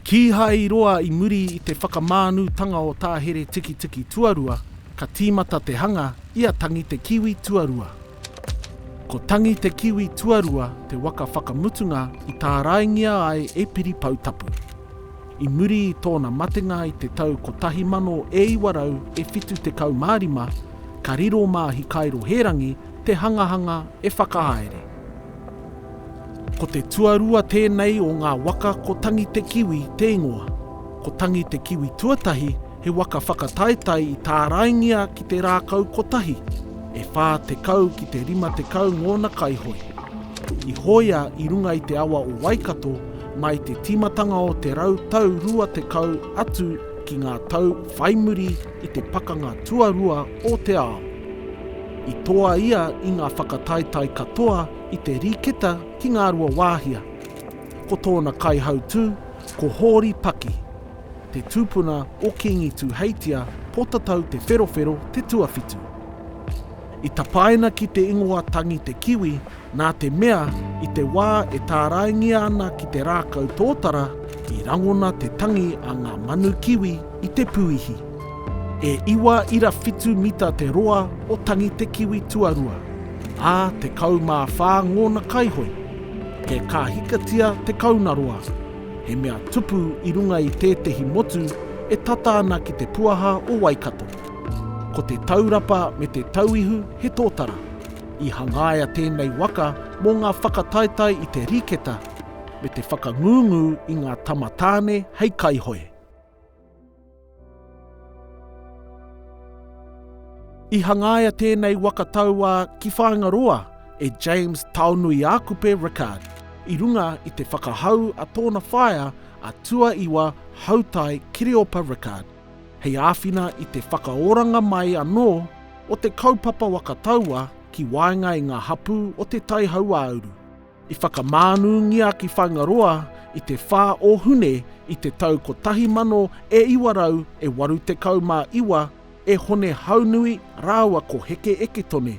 Kīhai roa i muri i te whakamānūtanga o tā Here Tikitiki tuarua, ka tīmata te hanga i a Tangi te Kiwi tuarua. Ko Tangi te Kiwi tuarua te waka whakamutunga i tāraingia ai e Piri Poutapu. I muri i tōna matenga i te tau 1975, ka riro mā Hikairo Hērangi te hangahanga e whakahaere. Ko te tuarua tēnei o ngā waka ko Tangi te Kiwi te ingoa, ko Tangi te Kiwi tuatahi He waka whakataetae i tāraingia ki te rākau kotahi, e 40 ki te 50 ngōna kaihoe. I hoea i runga i te awa o Waikato mai te tīmatanga o te rau tau rua tekau atu ki ngā tau whai muri i te Pakanga Tuarua o te Ao. I toa ia i ngā whakataetae katoa i te riketa ki Ngāruawāhia. Ko tōna kaihautū ko Hōri Paki. Te tupuna o Kingi Tuheitia Potatau Te Wherowhero te tuawhitu. I tapaina ki te ingoa tangi te kiwi nā te mea i te wā e tāraingia ana ki te rākau tōtara i rangona te tangi a ngā manu kiwi i te puihi. E iwa ira whitu mita te roa o tangi te kiwi tuarua, ā, tekau mā whā ngōna kaihoi. He kāhikatia te kaunaroa. He mea tupu i runga i tētehi motu e tata ana ki te puaha o Waikato. Ko te taurapa me te tauihu he tōtara. I hangaia tēnei waka mō ngā whakataetae i te riketa me te whakangungu i ngā tama tāne hei kaihoe. I hangaia tēnei waka tauā ki Whāingaroa e James Taonuiākupe Rickard i runga i te whakahau a tōna whaea a Tuaiwa Hautai Kiriopa Rickard hei āwhina i te whakaoranga mai anō o te kaupapa waka tauā ki waenga i ngā hapū o Te Tai Hauāuru. I whakamānūngia ki Whaingaroa i te 4 o Hune i te tau 1000 e 900 e 89 e Hone Haunui rāua ko Heke Eketone,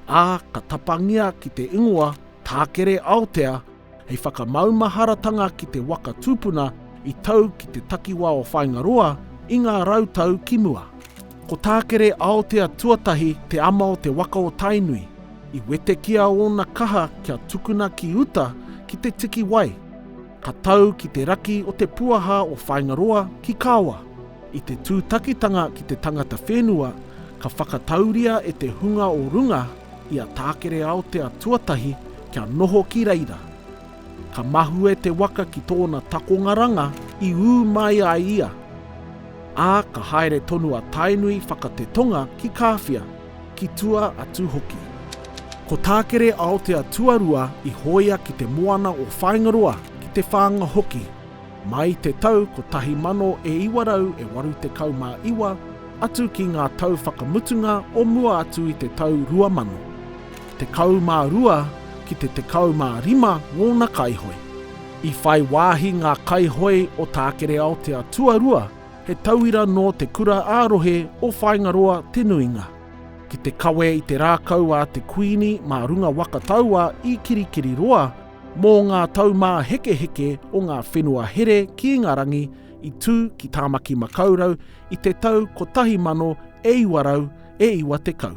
ā, ka tapangia ki te ingoa Tākere Aotea hei whakamaumaharatanga ki te waka tūpuna i tau ki te takiwā o Whaingaroa i ngā rau tau ki mua. Ko Tākere Aotea Tuatahi te ama o te waka o Tainui. I wetekia ōna kaha kia tukuna ki uta ki te tiki wai. Ka tau ki te raki o te puaha o Whāingaroa ki Kawa. I te tūtakitanga ki te tangata whenua, ka whakatauria e te hunga o runga i a Tākere Aotea Tuatahi kia noho ki reira. Ka mahue te waka ki tōna takongaranga i ū mai ai ia, ā, ka haere tonu a Tainui whakatetonga ki Kāwhia, ki tua atu hoki. Ko Tākere Aotea Tuarua i hōia ki te moana o Whāingaroa, ki Te Whānga hoki, mai te tau 1989 atu ki ngā tau whakamutunga o mua atu i te tau 2000. tekau mā rua ki te tekau mā rima ngōna kaihoe. I whai wāhi ngā kaihoe o Tākere-aotea tuarua, he tauira nō te kura ā-rohe o Whāingaroa te nuinga. Ki te kawe i te rākau a te Kuini mā runga waka taua i Kirikiriroa, mō ngā taumāhekeheke o ngā whenua here ki Ingarangi i tū ki Tāmaki-makau-rau i te tau 1990.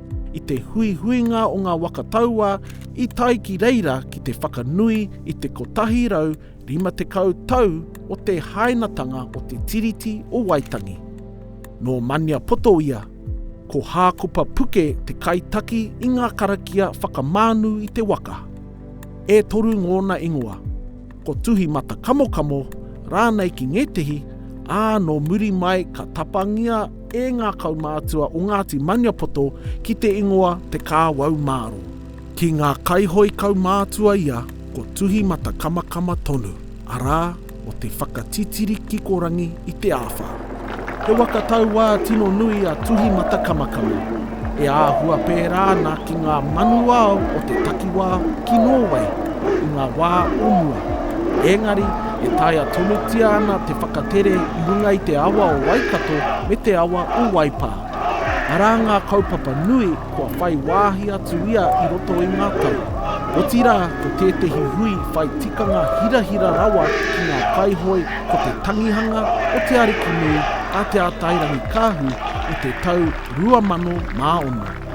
I te huihuinga o ngā waka tauā i tae ki reira ki te whakanui i te 150 tau o te hainatanga o te Tiriti o Waitangi. Nō Maniapoto ia, ko Hākopa Puke te kaitaki i ngā karakia whakamānu i te waka. E toru ngōna ingoa. ko Tuhi Mata Kamokamo rānei ki ngētehi, ā, nō muri mai ka tapangia e ngā kaumātua o Ngāti Maniapoto ki te ingoa Te Kāwau Māro. Ki ngā kaihoe kaumātua ia ko Tuhi Mata Kamakama tonu, arā, o te whakatitiri kikorangi i te āwhā. He waka tauā tino nui a Tuhi Matakamakama, e āhua pērā ana ki ngā manu ao o te takiwā ki Nōwei i ngā wā o mua. Ēngari, e taea tonutia ana te whakatere i runga i te awa o Waikato me te awa o Waipā. Arā ngā kaupapa nui kua whai wāhi atu ia i roto i ngā tau, otirā ko tētehi hui whai tikanga hirahira rawa ki ngā kaihoe ko te tangihanga o te arikinui a Te Atairangikaahu o te tau 2006.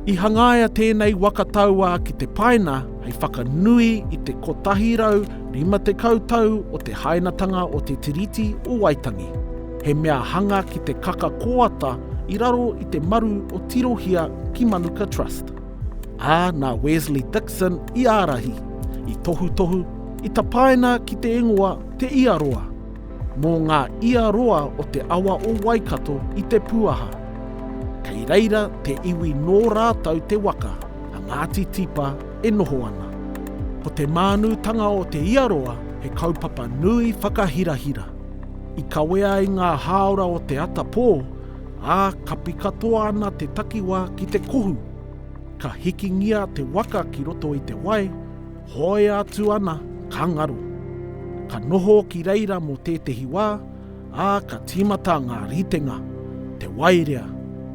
I hangaia tēnei waka tauā ki te paina hei whakanui i te 150 tau o te hainatanga o Te Tiriti o Waitangi, he mea hanga ki te kaka kōata i raro i te maru o Tirohia ki Manuka Trust. Ā, nā Wesley Dixon i ārahi, i tohutohu, i tapaina ki te ingoa Te Ia Roa, mō ngā ia roa o te awa o Waikato i Te Puaha. Kei reira te iwi nō rātou te waka a Ngāti Tipa e noho ana. Ko te mānūtanga o Te Ia Roa he kaupapa nui whakahirahira. I kawea i ngā hāora o te atapō, ā, kapi katoa ana te takiwā ki te kohu. Ka hikingia te waka ki roto i te wai, hoea atu ana, ka ngaro. Ka noho ki reira mō tētehi wā, ā, ka tīmata ngā ritenga, te waerea,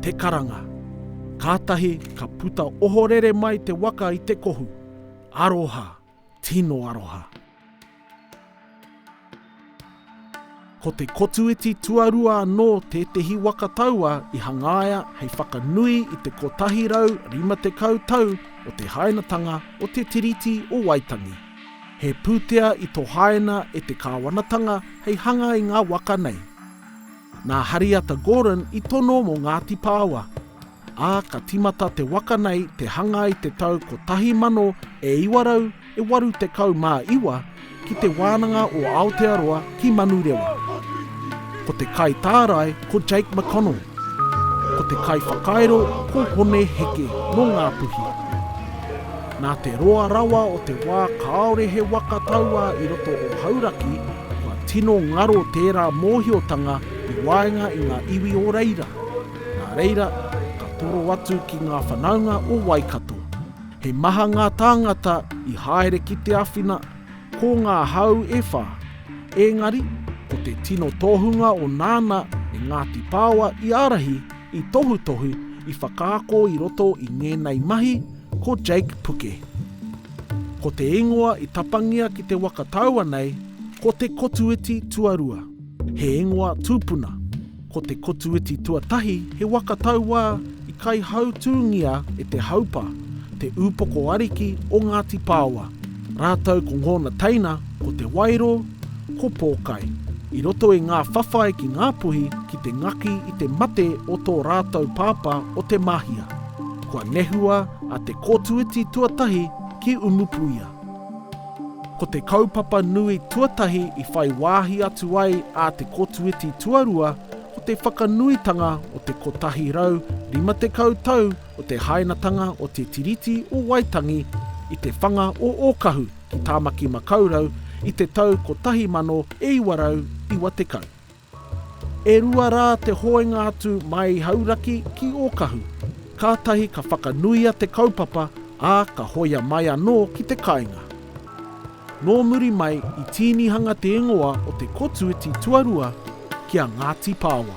te karanga. Kātahi ka puta ohorere mai te waka i te kohu. Aroha! Tino aroha. Ko te kotuiti tuarua anō tētehi waka taua i hangaia hei whakanui i te 150 tau o te hainatanga o Te Tiriti o Waitangi. He pūtea i tohaina e te kāwanatanga hei hanga i ngā waka nei. Nā Hariata Gordon i tono mō Ngāti Pāoa, ā, ka tīmata te waka nei te hanga i te tau 1989 ki Te Wānanga o Aotearoa ki Manurewa. Ko te kaitārai ko Jake McConnell. Ko te kaiwhakairo ko Hone Heke nō Ngāpuhi. Nā te roa rawa o te wā kāore he waka tauā i roto o Hauraki, Kua tino ngaro tērā mōhiotanga i waenga i ngā iwi o reira. Nā reira, ka toro atu ki ngā whanaunga o Waikato. He maha ngā tāngata i haere ki te awhina, ko ngā hau e whā. Ēngari, ko te tino tohunga o nāna e Ngāti Pāoa i ārahi, I tohutohu, i whakaako i roto i ngēnei mahi ko Jake Puke. Ko te ingoa i tapangia ki te waka taua nei ko Te Kotuiti Tuarua, he ingoa tūpuna, ko Te Kotuiti Tuatahi he waka tauā i kaihautūngia e Te Haupa, te ūpoko ariki o Ngāti Pāoa. Rātou ko ngōna teina, ko Te Wairo, ko Pōkai. I roto i ngā whawhai ki Ngāpuhi ki te ngaki i te mate o tō rātou pāpā o Te Mahia, kua nehua a Te Kōtuiti tuatahi ki Umupuia. Ko te kaupapa nui tuatahi i whai wāhi atu ai a Te Kōtuiti tuarua ko te whakanuitanga o te 150 tau Ko te hainatanga o te Tiriti o Waitangi i te whanga o Ōkahu ki Tāmaki-makau-rau i te tau 1990. E rua rā te hoenga atu mai Hauraki ki Ōkahu, kātahi ka whakanuia te kaupapa, ā, ka hoia mai anō ki te kainga. Nō muri mai i tīnihanga te ingoa o Te Kotuiti Tuarua ki a Ngāti Pāoa.